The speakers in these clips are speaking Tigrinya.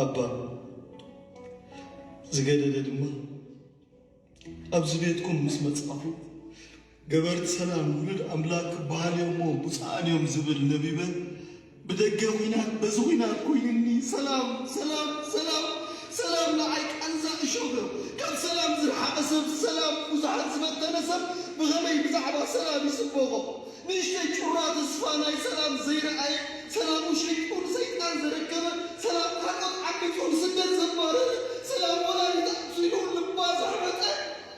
ኣባ ዝገደደ ድማ ኣብዚ ቤትኩም ምስ መጻኹ ገበርቲ ሰላም ውሉድ ኣምላክ ክበሃል እዮ'ሞ ብፁዓን እዮም ዝብል ነቢበ ብደገ ኹናት በዚ ኹናት ኮይኑኒ ሰላም ሰላም ሰላም ሰላም ንዓይ ቃንዛ እሾኽ ዩ ካብ ሰላም ዝርሓቐ ሰብ ሰላም ብዙሓት ዝፈተነ ሰብ ብኸመይ ብዛዕባ ሰላም ይስበኾ ንእሽተይ ጩራ ተስፋ ናይ ሰላም ዘይረኣየ ሰላሙ ሸይጡ ንሰይጣን ዘረከበ ሰላም ካልኦት ዓሚፁ ንስደት ዘባረረ ሰላም ወላዲታ ኣሕዚኑ ልባ ዘሕበጠ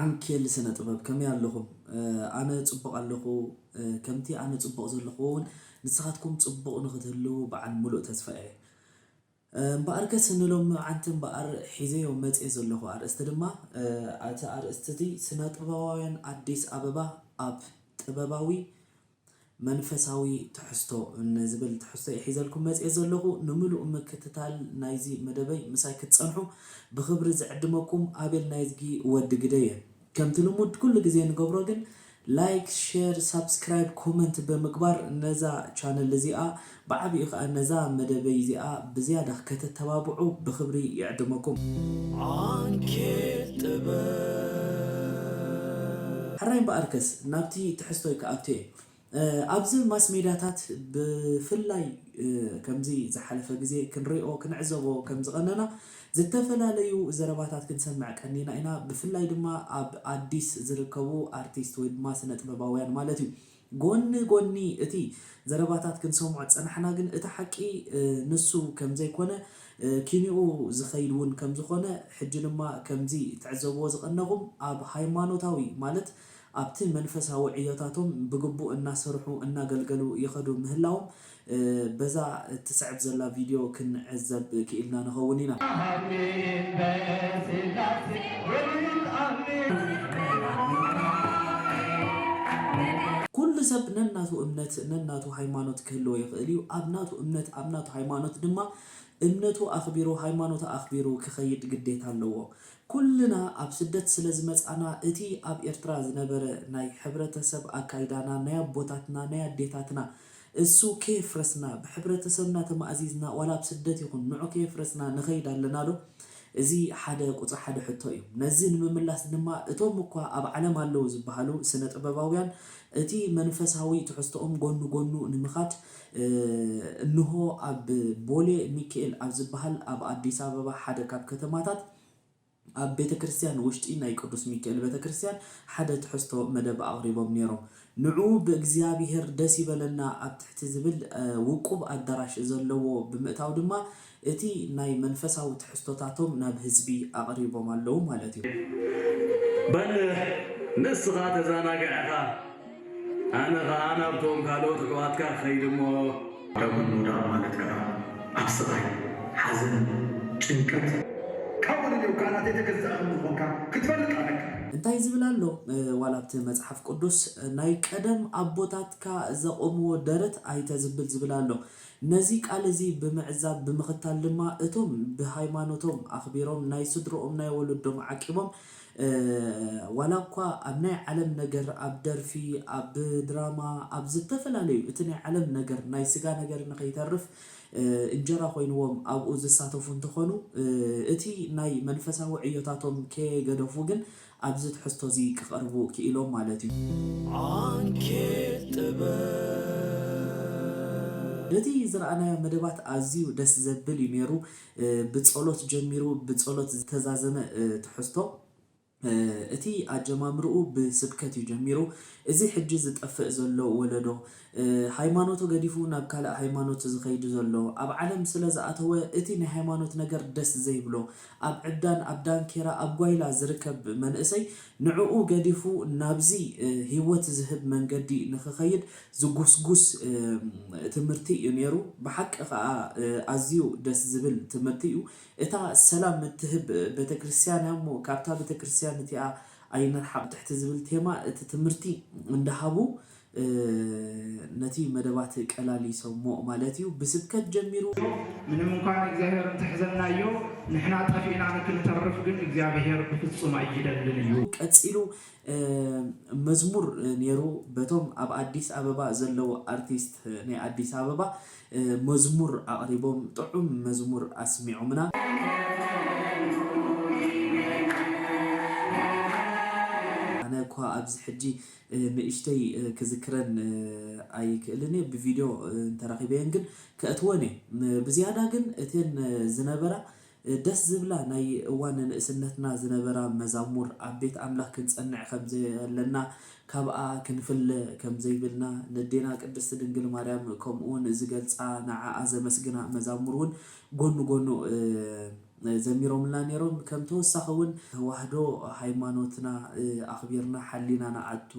ዓንኬል ስነ ጥበብ ከመይ ኣለኹም ኣነ ጽቡቕ ኣለኹ ከምቲ ኣነ ጽቡቕ ዘለኹዎ ውን ንስኻትኩም ጽቡቕ ንኽትህልዉ በዓል ምሉእ ተስፋ እየ እምበኣርከስ ንሎሚ መዓንቲ እምበኣር ሒዘዮ መጼ ዘለኹ ኣርእስቲ ድማ እቲ ኣርእስቲ እዚ ስነ ጥበባውያን ኣዲስ ኣበባ ኣብ ጥበባዊ መንፈሳዊ ትሕዝቶ ንዝብል ትሕዝቶ'የ ሒዘልኩም መጺኤ ዘለኹ። ንምሉእ ምክትታል ናይዚ መደበይ ምሳይ ክትጸንሑ ብኽብሪ ዝዕድመኩም ኣቤል ናይዝጊ ወዲ ግደይ'የ። ከምቲ ልሙድ ኩሉ ግዜ እንገብሮ ግን ላይክ፣ ሼር፣ ሳብስክራይብ፣ ኮመንት ብምግባር ነዛ ቻነል እዚኣ ብዓቢኡ ከኣ ነዛ መደበይ እዚኣ ብዝያዳ ከተተባብዑ ብኽብሪ ይዕድመኩም። ዓንኬል ጥበብ። ሕራይ እምበኣርከስ ናብቲ ትሕዝቶይ ክኣቱ እየ። ኣብዚ ማስ ሜድያታት ብፍላይ ከምዚ ዝሓለፈ ግዜ ክንሪኦ ክንዕዘቦ ከም ዝቐነና ዝተፈላለዩ ዘረባታት ክንሰምዕ ቀኒና ኢና ብፍላይ ድማ ኣብ ኣዲስ ዝርከቡ ኣርቲስት ወይ ድማ ስነጥበባውያን ማለት እዩ። ጎኒ ጎኒ እቲ ዘረባታት ክንሰምዖ ዝጸናሕና ግን እቲ ሓቂ ንሱ ከምዘይኮነ ኪንኡ ዝኸይድ ውን ከምዝኾነ ሕጂ ድማ ከምዚ ትዕዘብዎ ዝቐነኹም ኣብ ሃይማኖታዊ ማለት ኣብቲ መንፈሳዊ ዕዮታቶም ብግቡእ እናሰርሑ እናገልገሉ ይኸዱ ምህላዎም በዛ እትስዕብ ዘላ ቪድዮ ክንዕዘብ ክኢልና ንኸውን ኢና። ኣሜን በስላሴ ወልድ ኣሜን። ኩሉ ሰብ ነናቱ እምነት ነናቱ ሃይማኖት ክህልዎ ይኽእል እዩ። ኣብ ናቱ እምነት ኣብ ናቱ ሃይማኖት ድማ እምነቱ ኣኽቢሩ ሃይማኖቱ ኣኽቢሩ ክኸይድ ግዴታ ኣለዎ። ኩልና ኣብ ስደት ስለ ዝመጻእና እቲ ኣብ ኤርትራ ዝነበረ ናይ ሕብረተሰብ ኣካይዳና ናይ ኣቦታትና ናይ ኣዴታትና እሱ ከየፍረስና ብሕብረተሰብና ተማእዚዝና ዋላ ኣብ ስደት ይኹን ንዑ ከየፍረስና ንኸይድ ኣለና ዶ? እዚ ሓደ ቁጽሪ ሓደ ሕቶ እዩ። ነዚ ንምምላስ ድማ እቶም እኳ ኣብ ዓለም ኣለዉ ዝበሃሉ ስነ ጥበባውያን እቲ መንፈሳዊ ትሕዝቶኦም ጎኑ ጎኑ ንምኻድ እንሆ ኣብ ቦሌ ሚኪኤል ኣብ ዝበሃል ኣብ ኣዲስ ኣበባ ሓደ ካብ ከተማታት ኣብ ቤተ ክርስቲያን ውሽጢ ናይ ቅዱስ ሚኪኤል ቤተ ክርስቲያን ሓደ ትሕዝቶ መደብ ኣቕሪቦም ነይሮም። ንዑ ብእግዚኣብሔር ደስ ይበለና ኣብ ትሕቲ ዝብል ውቁብ ኣዳራሽ ዘለዎ ብምእታው ድማ እቲ ናይ መንፈሳዊ ትሕዝቶታቶም ናብ ህዝቢ ኣቕሪቦም ኣለዉ ማለት እዩ። በል ንስኻ ተዛናግዕ ኢኻ። ኣነ ከኣ ናብቶም ካልኦት ኣሕዋትካ ክኸይድ እሞ። ዳዊት ምውዳቕ ማለት ከኣ ኣብ ስቓይ፣ ሓዘን፣ ጭንቀት። ካብኡ ንኔው ከኣ ናተይ ተገዛኢ ከም ዝኾንካ ክትፈልጥ ኣለካ። እንታይ ዝብል ኣሎ ዋላ ኣብቲ መጽሓፍ ቅዱስ ናይ ቀደም ኣቦታትካ ዘቖምዎ ደረት ኣይተዝብል ዝብል ኣሎ። ነዚ ቃል እዚ ብምዕዛብ ብምኽታል ድማ እቶም ብሃይማኖቶም ኣኽቢሮም ናይ ስድርኦም ናይ ወለዶም ዓቂቦም ዋላ እኳ ኣብ ናይ ዓለም ነገር ኣብ ደርፊ ኣብ ድራማ ኣብ ዝተፈላለዩ እቲ ናይ ዓለም ነገር ናይ ስጋ ነገር ንከይተርፍ እንጀራ ኮይንዎም ኣብኡ ዝሳተፉ እንተኾኑ እቲ ናይ መንፈሳዊ ዕዮታቶም ከየገደፉ ግን ኣብዚ ትሕዝቶ እዚ ክቀርቡ ክኢሎም ማለት እዩ። ዓንኬል ጥበብ። በቲ ዝረኣናዮ መደባት ኣዝዩ ደስ ዘብል እዩ ኔሩ ብጸሎት ጀሚሩ ብጸሎት ዝተዛዘመ ትሕዝቶ እቲ ኣጀማምርኡ ብስብከት እዩ ጀሚሩ እዚ ሕጂ ዝጠፍእ ዘሎ ወለዶ ሃይማኖቱ ገዲፉ ናብ ካልእ ሃይማኖት ዝኸይድ ዘሎ ኣብ ዓለም ስለ ዝኣተወ እቲ ናይ ሃይማኖት ነገር ደስ ዘይብሎ ኣብ ዕብዳን ኣብ ዳንኬራ ኣብ ጓይላ ዝርከብ መንእሰይ ንዕኡ ገዲፉ ናብዚ ሂወት ዝህብ መንገዲ ንኽኸይድ ዝጉስጉስ ትምህርቲ እዩ ነይሩ ብሓቂ ከኣ ኣዝዩ ደስ ዝብል ትምህርቲ እዩ እታ ሰላም እትህብ ቤተክርስትያን እያ እሞ ካብታ ቤተክርስትያን እቲኣ ኣይንርሓቕ ትሕቲ ዝብል ቴማ እቲ ትምህርቲ እንዳሃቡ ነቲ መደባት ቀላሊሶሞ ማለት እዩ ብስብከት ጀሚሩ ምንም እንኳ ንእግዚኣብሔር እንተሕዘናዮ ንሕና ጠፊእና ንክንተርፍ ግን እግዚኣብሔር ብፍጹም ኣይደልን እዩ። ቀጺሉ መዝሙር ኔሩ በቶም ኣብ ኣዲስ ኣበባ ዘለዉ ኣርቲስት ናይ ኣዲስ ኣበባ መዝሙር ኣቅሪቦም ጥዑም መዝሙር ኣስሚዖምና። ኣነ እኳ ኣብዚ ሕጂ ንእሽተይ ክዝክረን ኣይክእልን እየ ብቪድዮ እንተረኺበየን ግን ከእትወን እየ ብዝያዳ ግን እተን ዝነበራ ደስ ዝብላ ናይ እዋን ንእስነትና ዝነበራ መዛሙር ኣብ ቤት ኣምላክ ክንጸንዕ ከም ዘየለና ካብኣ ክንፍለ ከም ዘይብልና ነዴና ቅድስት ድንግል ማርያም ከምኡውን ዝገልጻ ንዓኣ ዘመስግና መዛሙር ውን ጎኑ ጎኑ ዘሚሮምልና ኔሮም ከም ተወሳኪ ውን ተዋህዶ ሃይማኖትና ኣክቢርና ሓሊና ንኣቱ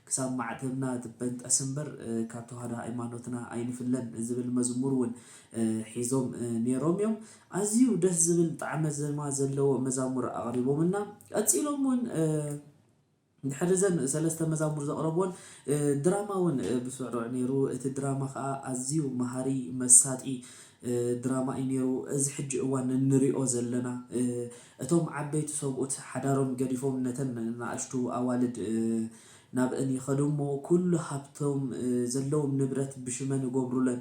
ክሳብ ማዕተብና ትበንጠስ እምበር ካብ ተዋህዶ ሃይማኖትና ኣይንፍለን ዝብል መዝሙር ውን ሒዞም ኔሮም እዮም። ኣዝዩ ደስ ዝብል ጣዕመ ዘማ ዘለዎ መዛሙር ኣቅሪቦምልና ቀጺሎም ውን ድሕሪ ዘን ሰለስተ መዛሙር ዘቅረብወን ድራማ ውን ብስሩዕ ኔሩ እቲ ድራማ ከኣ ኣዝዩ መሃሪ መሳጢ ድራማ እዩ ኔሩ እዚ ሕጂ እዋን እንሪኦ ዘለና እቶም ዓበይቲ ሰብኡት ሓዳሮም ገዲፎም ነተን ናኣሽቱ ኣዋልድ ናብእን ይከዱ እሞ ኩሉ ሃብቶም ዘለዎም ንብረት ብሽመን እጎብሩለን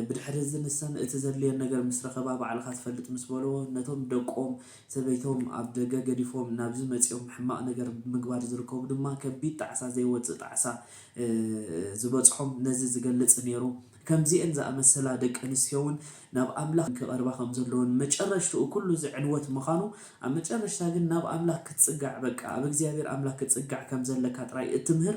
ብድሕሪ እዚ ንሰን እቲ ዘድልየን ነገር ምስ ረኸባ ባዕልኻ ትፈልጥ ምስ በልዎ ነቶም ደቆም ሰበይቶም ኣብ ደገ ገዲፎም ናብዚ መጺኦም ሕማቕ ነገር ብ ምግባር ዝርከቡ ድማ ከቢድ ጣዕሳ ዘይወጽእ ጣዕሳ ዝበጽሖም ነዚ ዝገልጽ ኔሩ ከምዚኤን ዝኣመሰላ ደቂ ኣንስትዮ ውን ናብ ኣምላኽ ክቐርባ ከም ዘለወን መጨረሽትኡ ኩሉ እዚ ዕንወት ምኻኑ ኣብ መጨረሽታ ግን ናብ ኣምላኽ ክትጽጋዕ በቃ ኣብ እግዚኣብሄር ኣምላኽ ክትጽጋዕ ከም ዘለካ ጥራይ እትምህር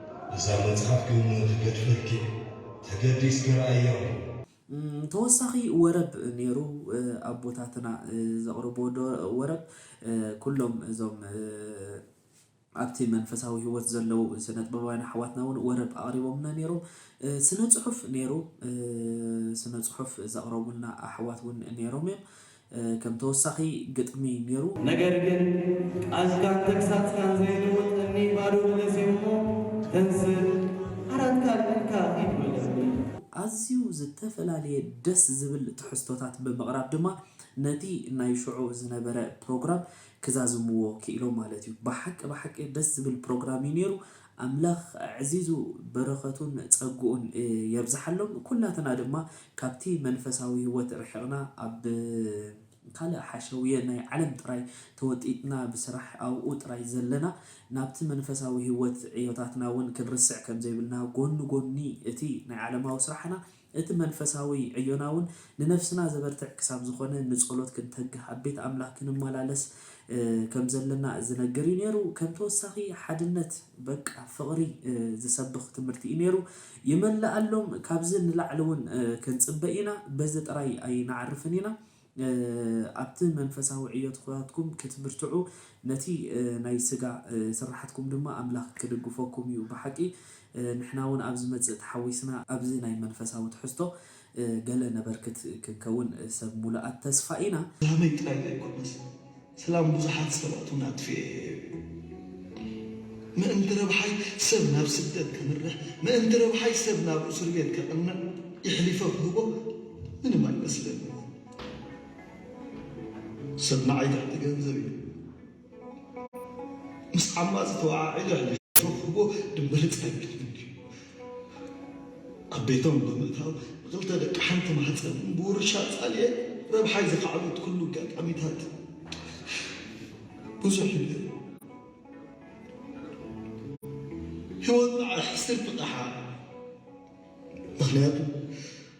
እዛ መጽሓፍ ግን ትገድፈኪ ተገዲስኪ ረኣያ። ተወሳኺ ወረብ ኔሩ ኣቦታትና ዘቕርብዎ ወረብ ኩሎም እዞም ኣብቲ መንፈሳዊ ሂወት ዘለዉ ስነጥበባውያን ኣሕዋትና ውን ወረብ ኣቕሪቦምልና ኔሮም ስነጽሑፍ ኔሩ ስነጽሑፍ ዘቕረቡልና ኣሕዋት ውን ኔሮም እዮም ከም ተወሳኺ ግጥሚ ኔሩ። ነገር ግን ቃዝካን ተግሳጽካን ዘይልውጥ እምኒ ባዶ መለስ'ዩ እሞ ተንስእ ዓራትካ ኣልዒልካ ኪድ መለስኒ። ኣዝዩ ዝተፈላለየ ደስ ዝብል ትሕዝቶታት ብምቕራብ ድማ ነቲ ናይ ሽዑ ዝነበረ ፕሮግራም ክዛዝምዎ ክኢሎም ማለት እዩ። ብሓቂ ብሓቂ ደስ ዝብል ፕሮግራም እዩ ኔሩ። ኣምላኽ ኣዕዚዙ በረኸቱን ጸግኡን የብዝሓሎም። ኩላትና ድማ ካብቲ መንፈሳዊ ህይወት ርሒቕና ኣብ ካልእ ሓሸውየ ናይ ዓለም ጥራይ ተወጢጥና ብስራሕ ኣብኡ ጥራይ ዘለና ናብቲ መንፈሳዊ ህይወት ዕዮታትና እውን ክንርስዕ ከም ዘይብልና ጎኒ ጎኒ እቲ ናይ ዓለማዊ ስራሕና እቲ መንፈሳዊ ዕዮና እውን ንነፍስና ዘበርትዕ ክሳብ ዝኾነ ንጸሎት ክንተግህ ኣብ ቤት ኣምላኽ ክንመላለስ ከም ዘለና ዝነግር እዩ ነይሩ ከም ተወሳኺ ሓድነት በቃ ፍቅሪ ዝሰብኽ ትምህርቲ እዩ ነይሩ ይመለኣሎም ካብዚ ንላዕሊ እውን ክንፅበ ኢና በዚ ጥራይ ኣይንዓርፍን ኢና ኣብቲ መንፈሳዊ ዕዮትኩራትኩም ክትብርትዑ ነቲ ናይ ስጋ ስራሓትኩም ድማ ኣምላክ ክድግፎኩም እዩ ብሓቂ ንሕና እውን ኣብ ዝመፅእ ተሓዊስና ኣብዚ ናይ መንፈሳዊ ትሕዝቶ ገለ ነበርክት ክንከውን ሰብ ሙሉኣት ተስፋ ኢና። ሰላመይ ጥራይ ዘይኮነስ ሰላም ብዙሓት ሰባት ውን ኣጥፊኤ እየ ምእንቲ ረብሓይ ሰብ ናብ ስደት ከምርሕ ምእንቲ ረብሓይ ሰብ ናብ እሱርቤት ከቅንዕ ይሕሊፈ ክህቦ ምንም ኣይመስለንን ሰብ ንዓይ ትሕቲ ገንዘብ እዩ ምስ ዓማጽ ተወዓዒሉ ኣይነሸውኹዎ ድምበርጽ ኣይብለንን እዩ። ኣብ ቤቶም ብምእታው ንኽልተ ደቂ ሓንቲ ማህጸን ብውርሻ ኣጻልየ ረብሓይ ዝኸዓበትኩሉ ኣጋጣሚታት ብዙሕ እዩ ነይሩ። ህይወት ንዓይ ሕስርቲ ቐሓ ምኽንያቱ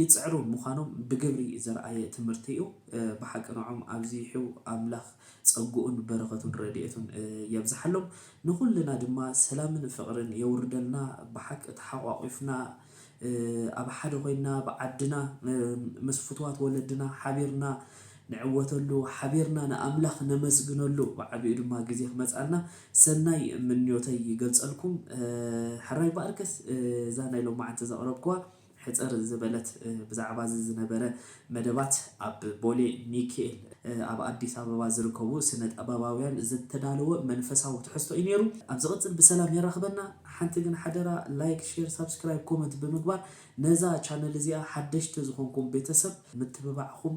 ይጽዕሩ ምዃኖም ብግብሪ ዘርኣየ ትምህርቲ'ዩ። ብሓቂ ንዖም ኣብዚሑ ኣምላኽ ጸግኡን በረኸቱን ረድኤቱን የብዝሓሎም። ንኹልና ድማ ሰላምን ፍቕርን የውርደልና። ብሓቂ ተሓቋቊፍና ኣብ ሓደ ኮይንና ኣብ ዓድና ምስ ፍቱዋት ወለድና ሓቢርና ንዕወተሉ፣ ሓቢርና ንኣምላኽ ነመስግነሉ፣ ብዓቢኡ ድማ ግዜ ክመጽኣልና ሰናይ ምንዮተይ ይገልጸልኩም። ሕራይ ባኣርከስ እዛ ናይ ሎማዓንቲ ዘቕረብክዋ፣ ሕጽር ዝበለት ብዛዕባዚ ዝነበረ መደባት ኣብ ቦሌ ሚኪኤል ኣብ ኣዲስ ኣበባ ዝርከቡ ስነጠበባውያን ዝተዳለወ መንፈሳዊ ትሕዝቶ እዩ ኔሩ ኣብ ዝቅጽል ብሰላም የራክበና ሓንቲ ግን ሓደራ ላይክ ሼር ሳብስክራይብ ኮመንት ብምግባር ነዛ ቻነል እዚኣ ሓደሽቲ ዝኮንኩም ቤተሰብ ምትብባዕኩም